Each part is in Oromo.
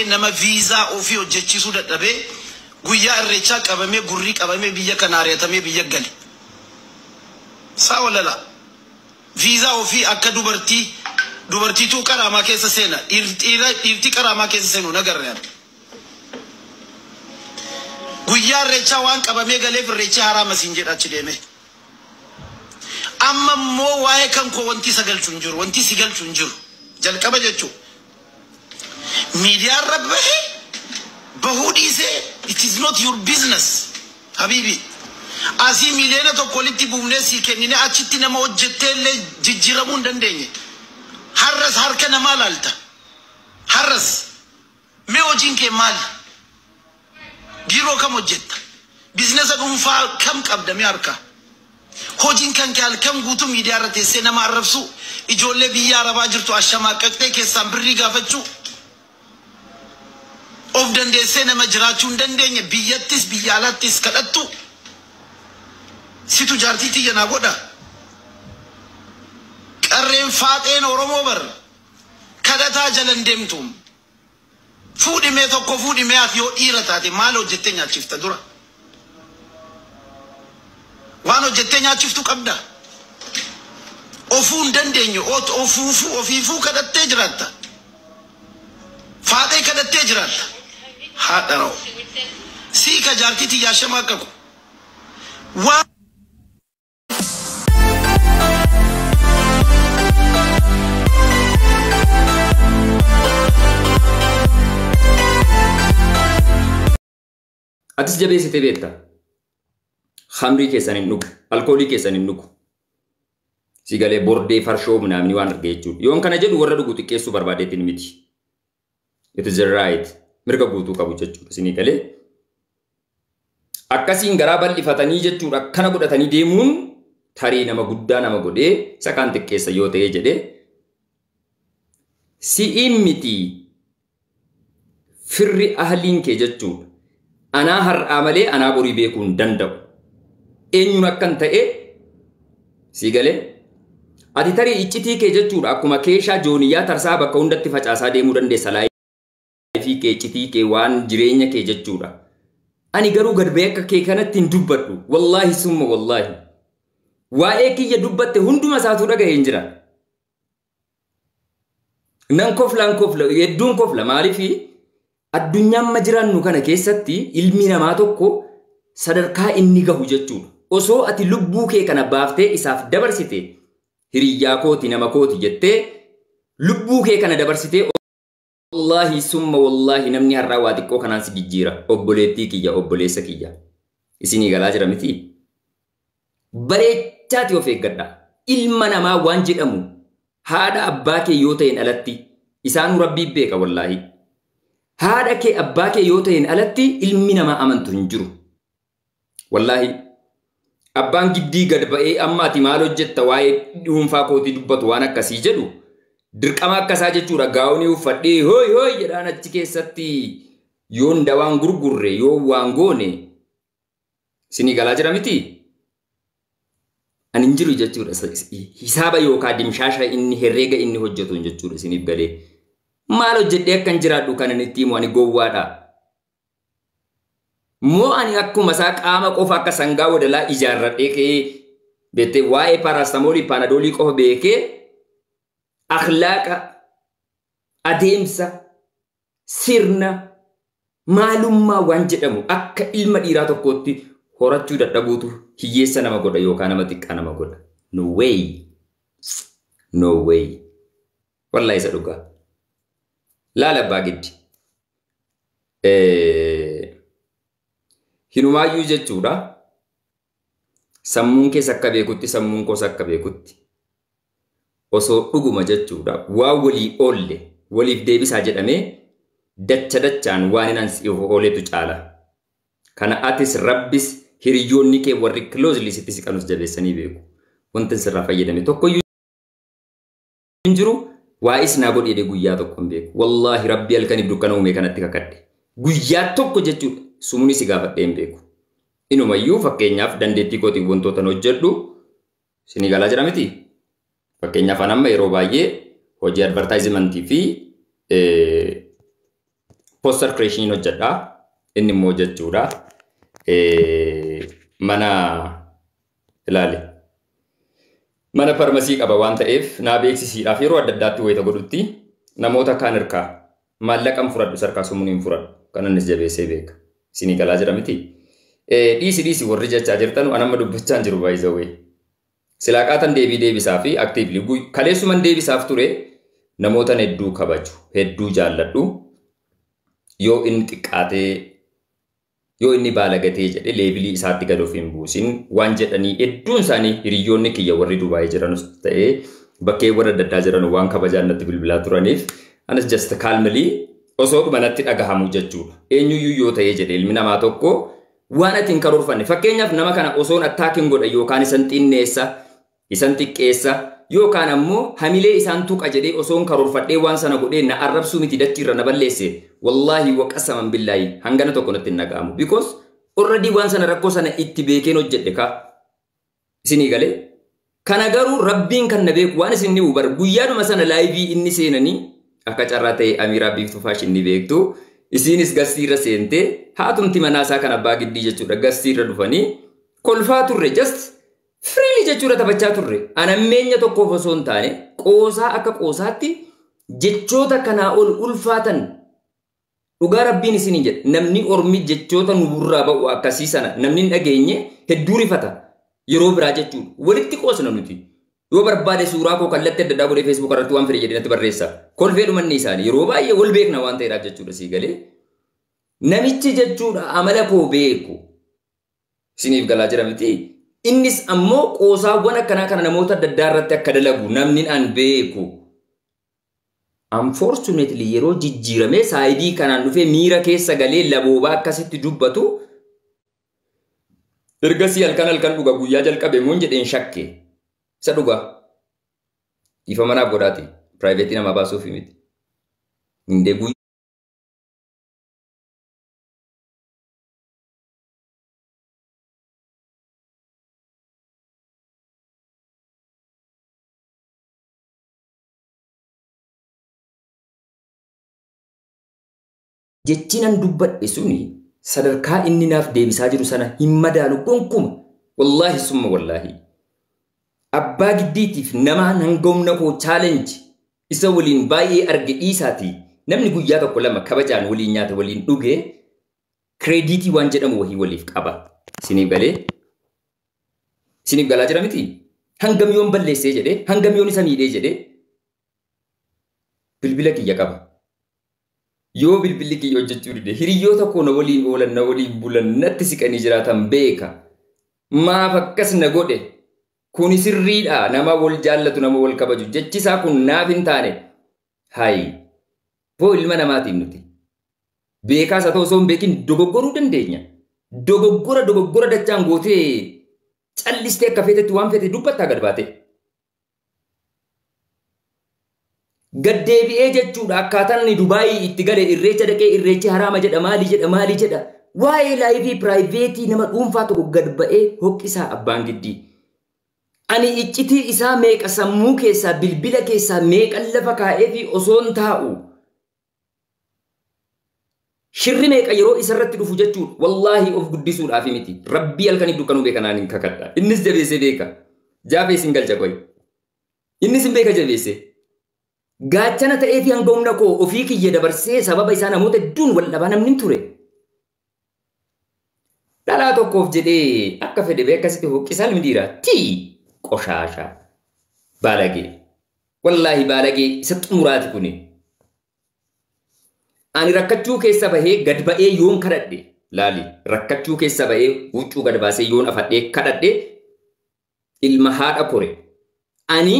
Nama viizaa ofii hojjechiisuu dadhabee guyyaa irreechaa qabamee gurrii qabamee biyya kanaa ari'atamee biyya gale. Saa walalaa. Viizaa ofii akka dubartii dubartiituu qaraamaa keessa seena dhiir- dhiira- dhiirtii qaraamaa keessa seenu hin agarre ani. Guyyaa irreechaa waan qabamee galeef irreechi haraama siin jedha achi deemee. Amma immoo waa'ee kan koo wanti isa galchu hin jiru wanti si galchu hin jiru jalqaba jechuudha. Miidiyaa irra bahe bahuu dhiisee it is not your business habiibi. Asii miiliyoona tokko walitti buufnee sii kenninee achitti nama hojjettee illee jijjiiramuu hin dandeenye. Har'as harka namaa laalta. Har'as mee hojiin kee maali? Biiroo kam hojjetta? Biiznasa dhuunfaa kam qabda mee harkaa? Hojiin kan kee halkan guutuu miidiyaa irra teessee nama arrabsuu, ijoollee biyya Arabaa jirtu ashamaaqaqxee keessaan birrii gaafachuu, of dandeessee nama jiraachuu hin dandeenye biyyattis biyya alaattis kadhattu situ jaartii tiyya naa godha. Qarreen faaxeen Oromoo bar kadhataa jalan deemtu. Fuudhi mee tokko fuudhi mee ati yoo dhiira taate maal hojjettee nyaachifta dura waan hojjettee nyaachiftu qabda ofuu hin dandeenye ot- ofuufuu ofiifuu kadhattee jiraatta faaxee kadhattee jiraatta haadha ra'u sii ka jaartii tiyyaa shama akka ko waan Atis jabeessitee beekta. Hamrii keessan hin dhugu. Alkoolii keessan hin dhugu. Sigalee bordee farshoo minaamni waan argee jechuudha. Yoon kana jedhu warra dhugu xiqqeessuu barbaadeetiin miti. It is a right. Mirga guutuu qabu jechuudha isinii galee. Akkasiin garaa bal'ifatanii jechuudha akkana godhatanii deemuun tarii nama guddaa nama godhee isa kaan xiqqeessa yoo ta'ee jedhee si'iin miti firri ahliin kee jechuudha. Anaa har'aa malee anaa borii beekuu hin danda'u. Eenyuun akkan ta'e sii galee? Ati tarii iccitii kee jechuudha akkuma keeshaa jooniyyaa tarsaa bakka hundatti facaasaa deemuu dandeessa laayifii kee iccitii kee waan jireenya kee jechuudha. Ani garuu gad ba'ee akka kee kanatti hin dubbadhu. Wallaahi summa wallaahi. Waa'ee kiyya dubbatte hunduma isaatuu dhaga'ee hin jira. Nan kofla, nan kofla, hedduun kofla. Maaliif addunyaa amma jiraannu kana keessatti ilmi namaa tokko sadarkaa inni gahu jechuudha. Osoo ati lubbuu kee kana baaftee isaaf dabarsite hiriyyaa kooti nama kooti jettee lubbuu kee kana dabarsitee Wallaahi summa wallaahi namni har'aa waa xiqqoo kanaan si jijjiira. Obboleettii kiyya obboleessa kiyya. Isinii galaa jira miti. Bareechaati of eeggadha. Ilma namaa waan jedhamu haadha abbaa kee yoo ta'een alatti isaanuu rabbii beeka wallaahi. Haadha kee abbaa kee yoo ta'een alatti ilmi namaa amantu hin jiru. Wallaahi abbaan giddii gad ba'ee amma ati maal hojjetta waa'ee dhuunfaa kootii dubbatu waan akkasii jedhu dirqama akkasaa jechuudha gaa'onii uffadhee hooy hooy jedhaan achi keessatti yoon dawaan gurgurre yoon waan goone sinii galaa jira miti. Ani hin jiru jechuudha hisaaba yookaan dimshaasha inni herreega inni hojjetuun jechuudha isiniif galee maal hojjedhee akkan jiraadhu kan inni itti himu ani gowwaadha. Moo ani akkuma isaa qaama qofa akka sangaa wadalaa ijaarradhee ka'ee beektee waa'ee paaraastamoolii paanadoolii qofa beekee akhlaaqa adeemsa sirna maalummaa waan jedhamu akka ilma dhiiraa tokkootti horachuu dadhabuutu hiyyeessa nama godha yookaan nama xiqqaa nama godha. No way. No way. Wallahi isa dhugaa. Laala abbaa giddi. hinumaayyuu jechuudha. Sammuun keessa akka beekutti sammuun koos akka beekutti osoo dhuguma jechuudha waa walii oolle waliif deebisaa jedhamee dacha dachaan waan hin ansi ooletu caala. Kana atis rabbis hiriyoonni kee warri closely sitti siqanus jabeessanii beeku. Wanti sirraa fayyadame tokkoyyuu hin jiru waa is naa godhi jedhee guyyaa tokko hin beeku wallaahi rabbi halkaniif dukkana uumee kanatti kakadhe guyyaa tokko jechuudha sumunis si gaafadhee hin beeku inumayyuu fakkeenyaaf dandeettii kootiin wantootan hojjedhu sinii galaa jira miti fakkeenyaaf an amma yeroo baay'ee hojii advartaayizimantii fi poster creation hin hojjedha inni immoo jechuudha mana ilaali mana farmasii qaba waan ta'eef naa beeksisiidhaaf yeroo adda addaatti wayita godhutti namoota kaan irkaa maallaqan fudhadhu sarkaa sumuun hin fudhadhu kan innis jabeessee beeka isinii galaa jira miti dhiisi dhiisi warri jechaa jirtanu anamma dubbachaan jiru baay'isawee Silaa qaatan deebii deebisaafi actively guy kaleessuman deebisaaf ture namootan hedduu kabaju hedduu jaalladhu yoo inni xiqqaatee yoo inni baalagatee jedhe leebilii isaatti gad of hin buusin waan jedhanii hedduun isaanii hiriyyoonni kiyya warri Dubaayii jiranus ta'ee bakkeewwan adda addaa jiran waan kabajaan natti bilbilaa turaniif anas just calmly osoo dhuma natti dhagahamu jechuudha eenyuyyuu yoo ta'ee jedhe ilmi namaa tokko Waan ati hin karoorfanne. Fakkeenyaaf nama kana osoon attaakin godha yookaan isan xinneessa, isan xiqqeessa yookaan ammoo hamilee isaan tuqa jedhee osoon karoorfadhee waan sana godhee na arrabsuu miti dachiirra na balleesse. Wallaahi waqasaman billaahi hangana tokko natti hin dhaga'amu. Because already waan sana rakkoo sana itti beekeen hojjedhe kaa. isinii galee kana garuu rabbiin kan na beeku waan isin dhibu bar guyyaadhuma sana laayivii inni seenanii akka carraa ta'e amiiraa biiftuu faashin ni beektu isiinis gassii irra seentee haatumti manaa isaa kan abbaa giddii jechuudha gassii irra dhufanii kolfaa turre just firiilii jechuudha taphachaa turre anammeenya tokkoof osoo hin taane qoosaa akka qoosaatti jechoota kanaa ol ulfaatan Dhugaa Rabbiin isiniin jedha namni ormi jechoota nu burraa ba'u akkasii sana namni hin dhageenye hedduu rifata yeroo biraa jechuun walitti qoosna nuti. Yoo barbaade suuraa koo kallatti adda addaa godhee feesbuuk irratti waan fedhe jedhee natti barreessa. Kolfee dhumanni isaanii yeroo baay'ee wal beekna waan ta'eedhaaf jechuudha sii galee. Namichi jechuudha amala koo beeku. Isiniif galaa jira miti. Innis ammoo qoosaawwan akkanaa kana namoota adda addaa irratti akka dalagu namni an beeku. Unfortunately yeroo jijjiiramee saayidii kanaan dhufee miira keessa galee laboobaa akkasitti dubbatu ergasii halkan halkan dhuga guyyaa jalqabe moon jedheen shakke isa dhugaa dhiifama naaf godhaati piraayiveetii namaa baasuuf miti. Indee guyyaa Jechi nan dubbadhe suni sadarkaa inni naaf deebisaa jiru sana hin madaalu gonkuma. Wallaahi summa wallaahi. Abbaa giddiitiif nama hanga humna koo challenge isa waliin baay'ee arge dhiisaati. Namni guyyaa tokko lama kabajaan waliin nyaate waliin dhuge Kireediitii waan jedhamu wahii waliif qaba. Isiniif galee? Isiniif galaa jira miti? Hangam yoon balleessee jedhee, hangam yoon isa miidhee jedhee bilbila kiyya qaba. Yoo bilbilli kiyya hojjechuu dide hiriyoota koo na waliin oolan, na waliin bulan, natti siqanii jiraatan beeka. Maaf akkas na godhe? Kuni sirriidha. Nama wal jaallatu, nama wal kabaju. Jechi isaa kun naaf hin taane. Hayi. Boo ilma namaatiin nuti. Beekaas haa ta'u osoo hin beekin dogoggoruu dandeenya. Dogoggora dogoggora dachaan gootee callistee akka feetetti waan feete dubbattaa gad baatee. Gad deebi'ee jechuudha akkaataan inni Dubaayii itti gale irreecha dhaqee irreechi haraama jedha maali jedha maali jedha. Waa'ee laayifii piraayiveetii nama dhuunfaa tokko gad ba'ee hoqqisaa abbaan giddii. Ani iccitii isaa meeqa sammuu keessaa, bilbila keessaa meeqan lafa kaa'eefii osoon taa'u, shirri meeqa yeroo isa irratti dhufu jechuudha. Wallaahi of guddisuudhaafi miti. Rabbii halkaniif dukkanuu beeka naan hin kakadha. Innis jabeessee beeka. Jaafee isin galcha qoyi. Innis hin beeka jabeessee. Gaachana ta'eefii hanga humna koo ofii kiyya dabarsee sababa isaa namoota hedduun wal dhabaa namni hin ture. Dhalaa tokkoof jedhee akka fedhe bee akkasitti huqqisa ilmi dhiiraa. Tii! Qoshaasha. Baalagee. Wallaahi baalagee isa xumuraati kuni. Ani rakkachuu keessa bahee gad ba'ee yoon kadhadhe laali rakkachuu keessa ba'ee huccuu gad baasee yoon afadhee kadhadhe ilma haadha kore ani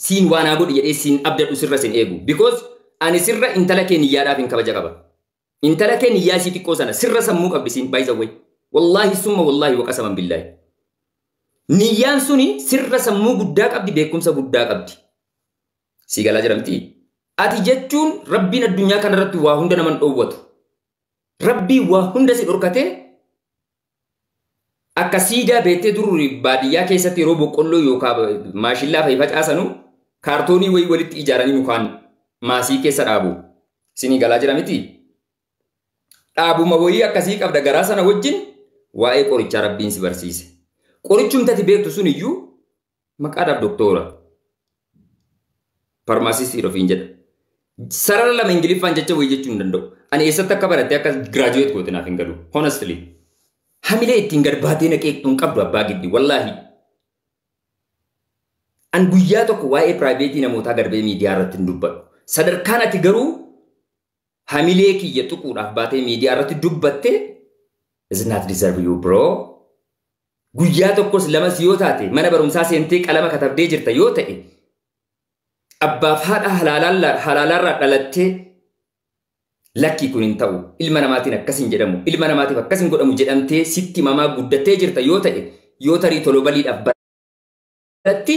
siin waanaa godhi jedhee siin abdadhu sirra sin eegu because ani sirra intala kee niyyaadhaaf hin kabaja qaba. Intala kee niyyaa ishii xiqqoo sana sirra sammuu qabdi siin by the way. Wallaahi summa wallaahi waqasaman billaahi. Niyyaan suni sirra sammuu guddaa qabdi beekumsa guddaa qabdi. Sii galaa jira miti. Ati jechuun rabbiin addunyaa kanarratti waa hunda naman dhoowwatu. Rabbii waa hunda si dhorkatee Akka siidaa beettee dur baadiyyaa keessatti yeroo boqqolloo yookaan maashillaa fa'i facaasanu kaartoonii wayii walitti ijaaranii mukaan maasii keessa dhaabu. Isinii galaa jira miti? Dhaabuma wayii akkasii qabda garaa sana wajjin waa'ee qorichaa rabbiin si barsiise. Qorichumtati beektu sun iyyuu Maqaadhaaf doktoora. Farmaasistii ofiin jedha. Sarara lama Ingiliffaan jecha wayii jechuu hin danda'u. Ani eessatti akka baratte akka giraajuweet goote naaf hin galu. Honestly. Hamilee ittiin gad baatee naqeeqxu hin qabdu abbaa giddi. Wallaahi. An guyyaa tokko waa'ee piraayiveetii namootaa garbee miidiyaa irratti hin dubbadhu. Sadarkaan ati garuu hamilee kiyya tuquudhaaf baatee miidiyaa irratti dubbatte is not deserve you bro. Guyyaa tokkos lamas yoo taate mana barumsaa seentee qalama katabdee jirta yoo ta'e abbaaf haadha halaalaa- halaalaarraa dhalattee lakkii kun hin ta'u ilma namaatiin akkas hin jedhamu ilma namaatiif akkas hin godhamu jedhamtee sitti mamaa guddattee jirta yoo ta'e yoo tarii tolobaliidhaaf baratti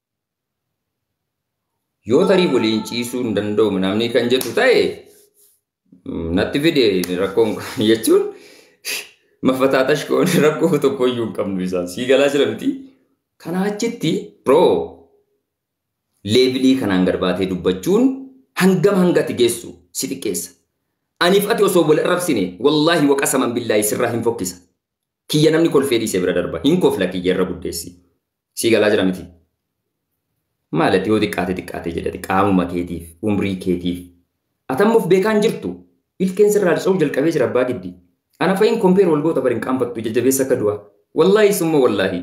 Yoo tarii waliin ciisuu hin danda'u namni kan jedhu ta'e natti fide rakkoon kun jechuun mafataa tashkoon rakkoo tokko iyyuu hin qabnu isaan sii galaa jira miti. Kanaa achitti bro leevilii kanaan gad baatee dubbachuun hangam hangati geessu si xiqqeessa. Aniif ati osoo wal arrabsine wallaahi waqasaman billaahi sirraa hin fokkisa. Kiyya namni kolfee dhiise bira darba. Hin kofla kiyya irra guddeessi. Sii galaa jira miti. Maalati yoo xiqqaate xiqqaate jedhati qaamuma keetiif, umrii keetiif. Atamma of beekaan jirtu. Ilkeen sirraa harca'uu jalqabee jira abbaa giddi. Ana fa'iin kompeer wal goota bari hin qaanfattu jajjabeessa akka du'a. Wallaahi summa wallaahi.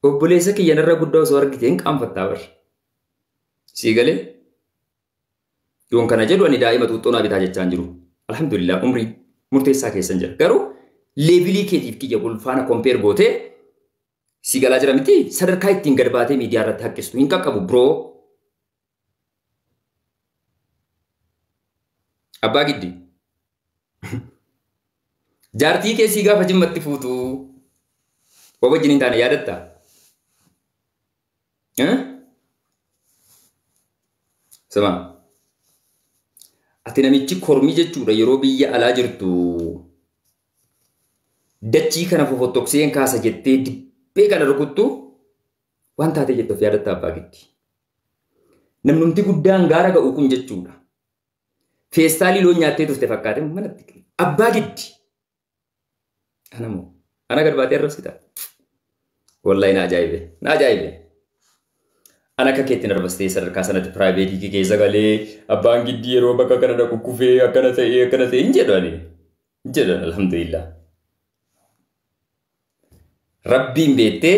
Obboleessa kiyya narra guddaa osoo argite hin qaanfattaa bari. Sii galee? Yoon kana jedhu ani daa'ima xuuxxoo naa bitaa jechaan jiru. Alhamdulillah umrii murteessaa keessan jira. Garuu leevilii keetiif kiyya wal faana kompeer gootee si galaa jira miti sadarkaa ittiin gad baatee miidiyaa irratti haqqistu hin qaqqabu biroo. Abbaa giddi. Jaartii keessii gaafa jimmatti fuutu wabajjin hin taane yaadatta. Eh? Sima. Ati namichi kormii jechuudha yeroo biyya alaa jirtu dachii kana fofottokseen kaasa jettee dibbee kana rukuttu waan taatee jettu of yaadatta abbaa gitti. Namnumti guddaan gaara ga'u kun jechuudha. Feestaalii loon nyaattee turte fakkaate manatti. Abbaa gitti. Ana moo. Ana gad baatee arrabsita. Wallahi na ajaa'ibe. Na ajaa'ibe. Ana akka keetti narrabsitee sadarkaa sanatti piraayiveetii kee keessa galee abbaan giddii yeroo bakka kana na kukkufee akkana ta'ee akkana ta'ee hin jedhu ani. Hin jedhu ani alhamdulillah. Rabbiin beettee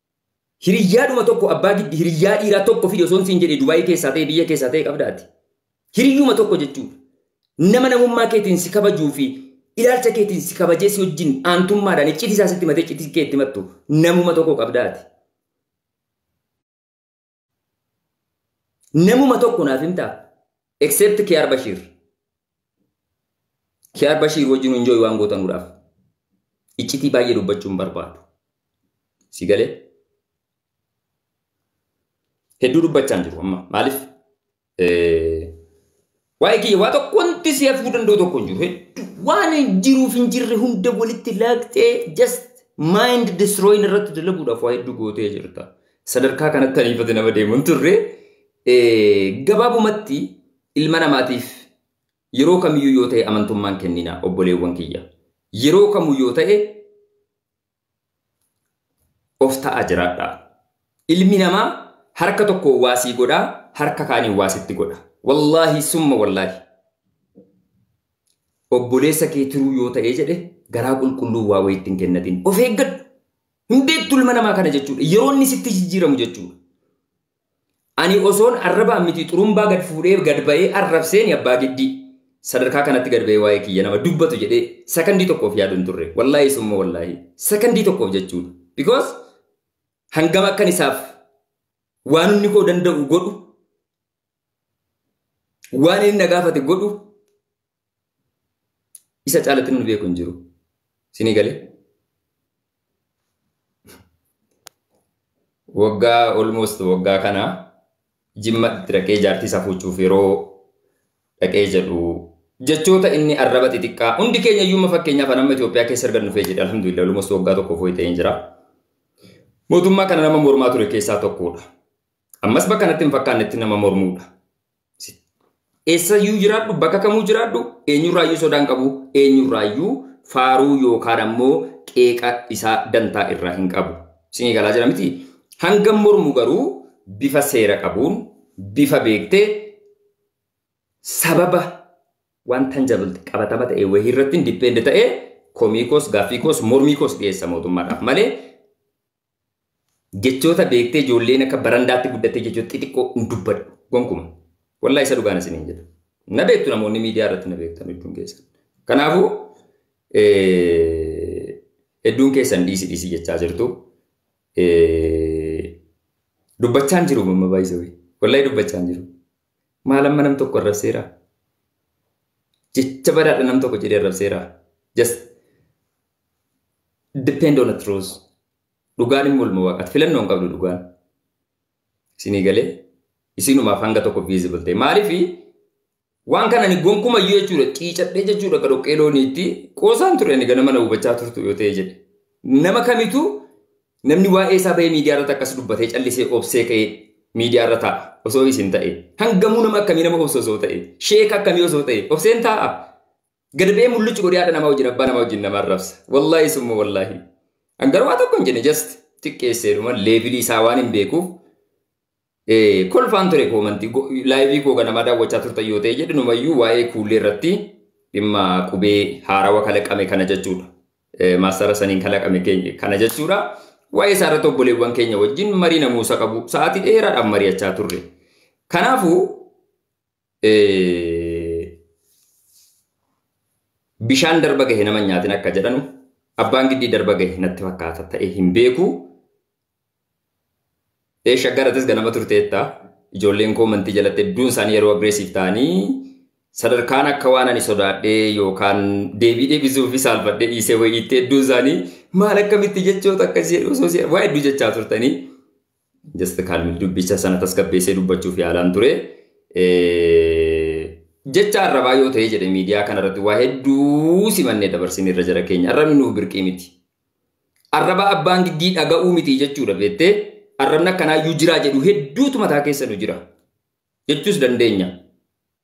Hiriyyaadhuma tokko abbaa giddi hiriyyaa dhiiraa tokko fidi osoon siin jedhee Dubaayii keessaa ta'e biyya keessaa ta'e qabda ati. Hiriyyuma tokko jechuudha. Nama namummaa keetiin si kabajuu fi ilaalcha keetiin si kabajee si wajjin aantummaadhaan iccitii isaa sitti matee iccitii kee itti mattu namuma tokko qabda ati. Namuma tokko naaf himtaa? Except Kiyaar Bashiir. Kiyaar Bashiir wajjin enjoy waan gootanuudhaaf. Iccitii baay'ee dubbachuu hin barbaadu. Si galee? Hedduu dubbachaa hin jiru amma. Maaliif? Waa'ee kiyya waa tokko wanti si hafuu danda'u tokko hin jiru. Hedduu waan hin jiruuf hin jirre hunda walitti laaqxee just mind destroying irratti dalaguudhaaf waa hedduu gootee jirta. Sadarkaa kanatti ariifate nama deemu hin turre. Gabaabumatti ilma namaatiif yeroo kamiyyuu yoo ta'e amantummaan kennina obboleewwan kiyya. Yeroo kamuu yoo ta'e of ta'aa jiraadha. Ilmi namaa harka tokkoon waa sii godha, harka kaaniin waa sitti godha. Wallaahi summa wallaahi. Obboleessa kee tiruu yoo ta'ee jedhe garaa qulqulluu waa wayiitti hin kennatiin. Of eeggadhu. Hin beektu ilma namaa kana jechuudha. Yeroo inni sitti jijjiiramu jechuudha. Ani osoon arrabaan miti xurumbaa gad fuudhee gad ba'ee arrabseeni abbaa giddii. Sadarkaa kanatti gad ba'ee waa'ee kiyya nama dubbatu jedhee sakandii tokkoof yaadu hin turre. Wallaahi summa wallaahi. Sakandii tokkoof jechuudha. Because hangam akkan isaaf waan inni koo danda'u godhu waan inni na gaafate godhu Isa caalatti nuni beeku hin jiru. Isinii galee? Waggaa almost waggaa kana jimma itti dhaqee jaartii isaa fuuchuuf yeroo dhaqee jedhu jechoota inni arraba xixiqqaa hundi keenya iyyuu fakkeenyaaf amma Itoophiyaa keessa erga dhufee jedhe alhamdulillah almost waggaa tokko fooyi ta'ee jira. Mootummaa kana nama mormaa ture keessaa tokkodha. Ammas bakka kanatti hin fakkaannetti nama mormuudha. Eessayyuu jiraadhu, bakka kamuu jiraadhu, eenyurraayyuu sodaa hin qabu, eenyurraayyuu faaruu yookaan ammoo qeeqa isaa dantaa irraa hin qabu. Isinii galaa jira miti? Hangam mormu garuu bifa seera qabuun, bifa beektee, sababa waan tangible qabatama ta'e wayii irratti depend ta'e komii koos, gaaffii koos, mormii koos dhiyeessa mootummaadhaaf malee Jechoota beektee ijoolleen akka barandaatti guddattee jechoota xixiqqoo hin dubbadhu. Gonkuma. Wallaahi isa dhugaan isiniin jedha. Na beektu namoonni miidiyaa irratti na beektan hedduun keessan. Kanaafuu hedduun keessan dhiisi dhiisi jechaa jirtu. Dubbachaan jiru mamma baay'isawee. Wallaahi dubbachaan jiru. Maal amma nam tokko arrabseera? Jecha badaadha nam tokko jedhee arrabseera. Just depend on a truth. Dhugaan hin mormu waaqatti. Filannoo hin qabdu dhugaan. Isinii galee isinumaaf hanga tokko visible ta'e. Maaliif waan kana ni gonkuma iyyuu jechuudha ciicadhee jechuudha akka dhoqqee looniitti qoosaan ture ani ganama na hubachaa turtu yoo ta'e jedhe. Nama kamitu namni waa'ee isaa bahee miidiyaa irratti akkas dubbatee callisee obsee ka'ee miidiyaa irra taa'a osoo isin ta'e. Hangamuu nama akkamii nama obsa osoo ta'e. Sheeka akkamii osoo ta'e. Obseen taa'a. Gad ba'ee mullucci godhee haadha namaa wajjin abbaa namaa wajjin nama arrabsa. Wallaahi summa wallaahi. An garuu waa tokko hin jenne just xiqqeesseedhuma leevilii isaa waan hin beekuuf eh, kolfaan ture koomantii go- laayivii koo ganamaa daawwachaa turtan yoo ta'e jedhu numayyuu waa'ee kuullee irratti dhimma qubee haarawa kalaqame kana jechuudha. Eh, Maastara saniin kalaqame keenya kana jechuudha. Waa'ee isaa irratti obboleewwan keenya wajjin marii namuusa qabu sa'aatii dheeraadhaan mari'achaa turre. Kanaafuu bishaan darba gahe nama nyaatin akka jedhanu abbaan giddii darba gahe natti fakkaata ta'e hin beeku. Eesha garatis ganama turteetta ijoolleen koo mantii jalatti hedduun isaanii yeroo agreesiif ta'anii sadarkaan akka waan ani sodaadhee yookaan deebii deebisuuf fi saalfadhee dhiisee wayiitti hedduun isaanii maal akkamitti jechoota akkas jedhu osoo waa'ee hedduu jechaa turtanii Just kaalmil dubbicha sana tasgabbeessee dubbachuuf yaalaan ture. Jecha arrabaa yoo ta'ee jedhe miidiyaa kanarratti waa hedduu simannee dabarsin irra jara keenya arrabni nuuf birqii miti. Arraba abbaan giddii dhaga'uu miti jechuudha beettee arrabni akkanaa iyyuu jiraa jedhu hedduutu mataa keessa nu jira jechuus dandeenya.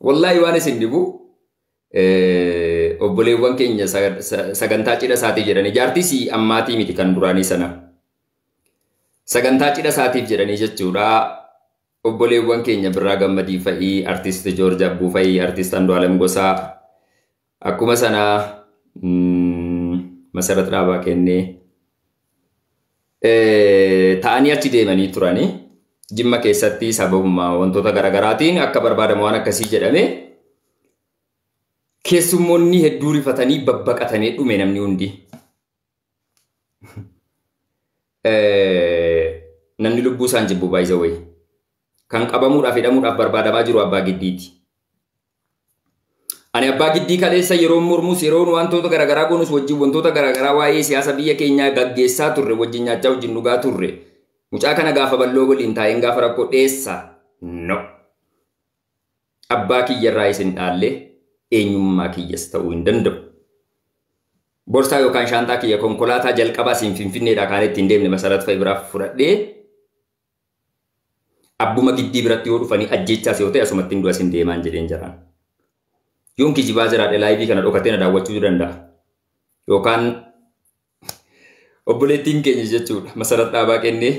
Wallaahi waan isin dhibu obboleewwan keenya sagantaa cidha isaatii jedhanii jaartii si ammaatii miti kan duraanii sana. Sagantaa cidha isaatiif jedhanii jechuudha obboleewwan keenya birraa gammadii fa'ii artiist Joorj Abbuu fa'ii artiist Andu'aalem Gosaa Akkuma sana Masarat Dhaabaa kennee ta'anii achi deemanii turanii jimma keessatti sababuma wantoota garaagaraatiin akka barbaadamu waan akkasii jedhame keessummoonni hedduu rifatanii babbaqatanii dhume namni hundi. Namni lubbuu isaan jibbu baay'isa wayii. Kan qabamuudhaaf hidhamuudhaaf barbaadamaa jiru abbaa giddiiti. Ani abbaa giddii kaleessa yeroon mormus yeroon wantoota garaagaraa goonus wajjin wantoota garaagaraa waa'ee siyaasa biyya keenyaa gaggeessaa turre wajjin nyaachaa wajjin dhugaa turre. Mucaa kana gaafa balloo waliin taa'een gaafa rakkoo dheessa. No. Abbaa kiyyarraa isin dhaalle eenyummaa kiyyas ta'uu hin danda'u. Borsaa yookaan shaanxaa kiyya konkolaataa jalqabaa siin finfinneedhaa kaan ittiin deemne masarat fa'i biraaf fudhadhee Abbuma giddii biratti yoo dhufanii ajjeechaas yoo ta'e asumattin du'a sin deemaan jedheen jaraan. Yoon kijibaa jiraadhe laayivii kana dhokatee na daawwachuu danda'a. Yookaan obboleettiin keenya jechuudha masarat dhaabaa kennee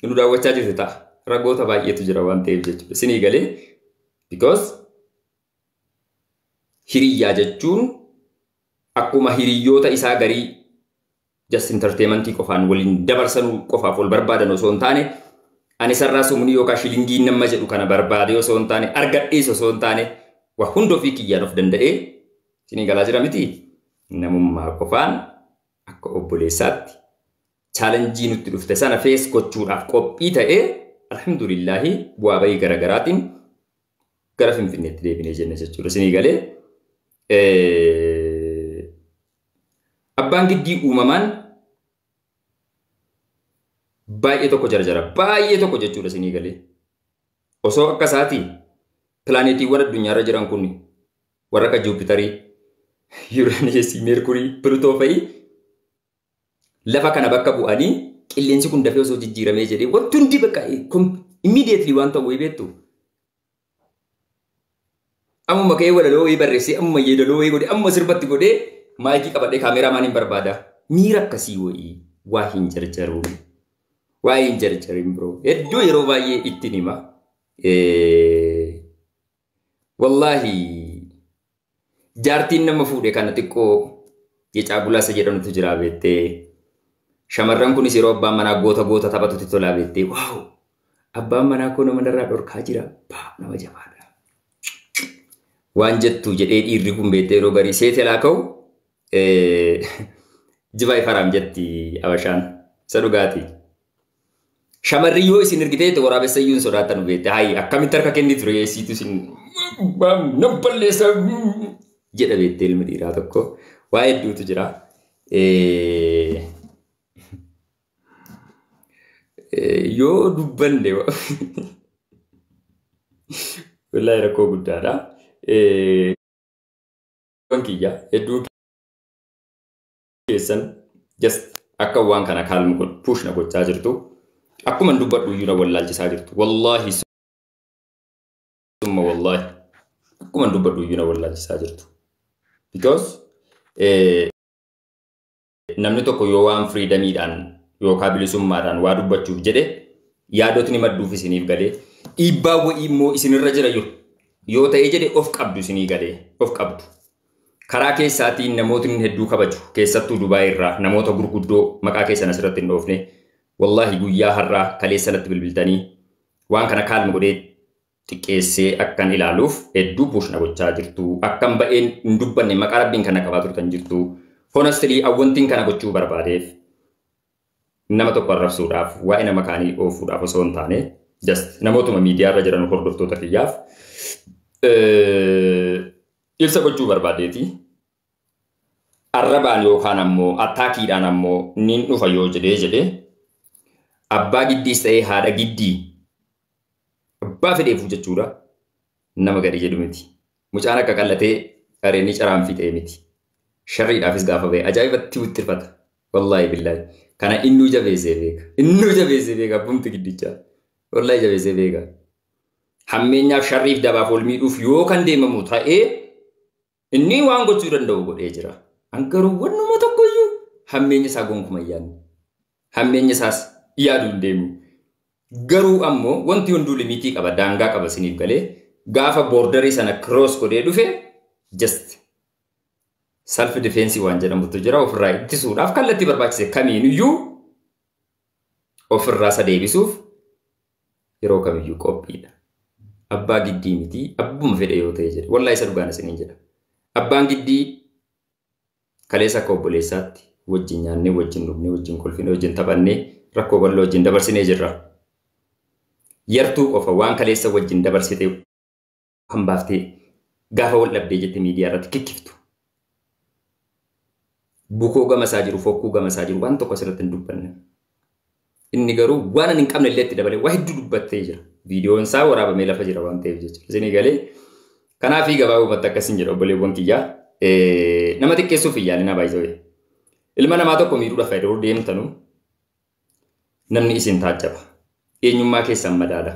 nu daawwachaa jirti ta'a. Ragoota baay'eetu jira waan ta'eef jechuudha. Isinii galee because Hiriyyaa jechuun akkuma hiriyyoota isaa garii just entertainmentii qofaan waliin dabarsanuu qofaaf wal barbaadan osoo hin taane ani sarraa sumunii yookaan shilingii nama jedhu kana barbaadee osoo hin taane argadhees osoo hin taane waa hunda ofii kiyyaan of danda'ee isinii galaa jira miti namummaa qofaan akka obboleessaatti chaalenjii nutti dhufte sana fees gochuudhaaf qophii ta'ee alhamdulillaahi bu'aa bahii garaagaraatiin gara Finfinneetti deebinee jenne jechuudha. Isinii galee abbaan giddii uumamaan baay'ee tokko jarjara. Baay'ee tokko jechuudha isinii galee. Osoo akka isaatii pilaaneetiiwwan addunyaarra jiran kun warra akka Juupitarii, Yuuraaniyeesii, Meerkurii, Pilutoo fa'i lafa kana bakka bu'anii qilleensi kun dafee osoo jijjiiramee jedhee wanti hundi bakka immediately waan ta'u wayii beektu. Ammuma ka'ee walaloo wayii barreessee ammuma yeedaloo wayii godhee ammuma sirbatti godhee maayikii qabadhee kaameeraa maaliin barbaada. Miira akkasii wayii waa hin jarjaruu. Waa hin jarjarin biroo. Hedduu yeroo baay'ee ittiin hima. Wallaahi Jaartiin nama fuudhe kana xiqqoo jecaa gulaasa jedhanutu jiraa beettee. Shamarran kunis yeroo abbaan manaa goota goota taphatutti tolaa beettee. Waaw! Abbaan manaa koo nama narraa dhorkaa jira. Baa nama jabaadha. Waan jettu jedhee dhiirri kun beettee yeroo garii seetelaa ka'u jibaa ifaraam jetti abashaan. Isa dhugaatii. Shamarri yoo isin ergitee ta'e waraabessa iyyuu hin sodaattan beekte. Hayi akkamitti harka kenni ture eessiitu isin nan balleessa jedha beekte ilmi dhiiraa tokko. Waa hedduutu jira. Yoo dubbanne wallahi rakkoo guddaadha. Waan kiyya hedduu keessan just akka waan kana kaalmu kun push na gochaa jirtu akkuma dubbadhu iyyuu na wallaalchisaa jirtu wallaahi summa wallaahi akkuma dubbadhu iyyuu na wallaalchisaa jirtu because namni tokko yoo waan firiidamiidhaan yookaan bilisummaadhaan waa dubbachuuf jedhe yaadotni madduuf isiniif galee dhiibbaa wa'ii immoo isinirra jira jiru yoo ta'ee jedhe of qabdu isinii galee of qabdu. Karaa keessaatiin namootni hedduu kabaju keessattuu Dubaay irraa namoota gurguddoo maqaa keessan asirratti hin dhoofne wallaahi guyyaa har'aa kaleessa natti bilbiltanii waan kana kaalm godhee xiqqeessee akkan ilaaluuf hedduu push na gochaa jirtu akkan ba'een hin dubbanne maqaa rabbiin kana qabaa turtan jirtu honestly awwantiin kana gochuu barbaadeef nama tokko arrabsuudhaaf waa'ee nama kaanii oofuudhaaf osoo hin taane just namootuma miidiyaa irra jiran hordoftoota kiyyaaf Ibsa gochuu barbaadeeti. Arrabaan yookaan ammoo attaakiidhaan ammoo niin dhufa yoo jedhee jedhee abbaa giddiis ta'ee haadha giddii abbaa fedheefuu jechuudha nama gadi jedhu miti. Mucaan akka qallatee dhareenni caraan fixee miti. Sharriidhaafis gaafa ba'e ajaa'ibatti wixxirfata. Wallaahi billaahi. Kana innuu jabeessee beeka. Innuu jabeessee beeka abbumti giddichaa. Wallaahi jabeessee beeka. hammeenyaaf sharriif dabaaf wal miidhuuf yoo kan deemamu ta'ee inni waan gochuu danda'u godhee jira. An garuu wannuma tokkoyyuu hammeenya isaa gonkuma yaadne. Hammeenya isaas yaaduu hin deemu. Garuu ammoo wanti hunduu limitii qaba daangaa qaba isiniif galee gaafa boordarii sana kiroos godhee dhufe just self defense waan jedhamutu jira ofirraa ittisuudhaaf kallattii barbaachise kamiiniyyuu ofirraa isa deebisuuf yeroo kamiyyuu qophiidha. Abbaa giddii miti abbuma fedhe yoo ta'e jedhe wallahi isa dhugaan isiniin jedha. Abbaan giddii kaleessa akka obboleessaatti wajjin nyaannee wajjin dhugnee wajjin kolfinee wajjin taphannee rakkoo bal'oo wajjin dabarsinee jirra. Yartuu qofa waan kaleessa wajjin dabarsite kan baaftee gaafa wal dhabdee jette miidiyaa irratti kikkiftu. Bukoo gama isaa jiru, fokkuu gama isaa jiru waan tokko asirratti hin dubbanne. Inni garuu waan ani hin qabne illee itti dabalee waa hedduu dubbattee jira. Viidiyoon isaa waraabamee lafa jira waan ta'eef jechuudha. Isinii galee kanaafii gabaabumatti akkasiin jedha obboleewwan kiyyaa. Nama xiqqeessuuf hin yaalina baay'isawee. Ilma namaa tokko miidhuudhaaf fayyadamuu deemtanu namni isin taajjaba. Eenyummaa keessan madaala.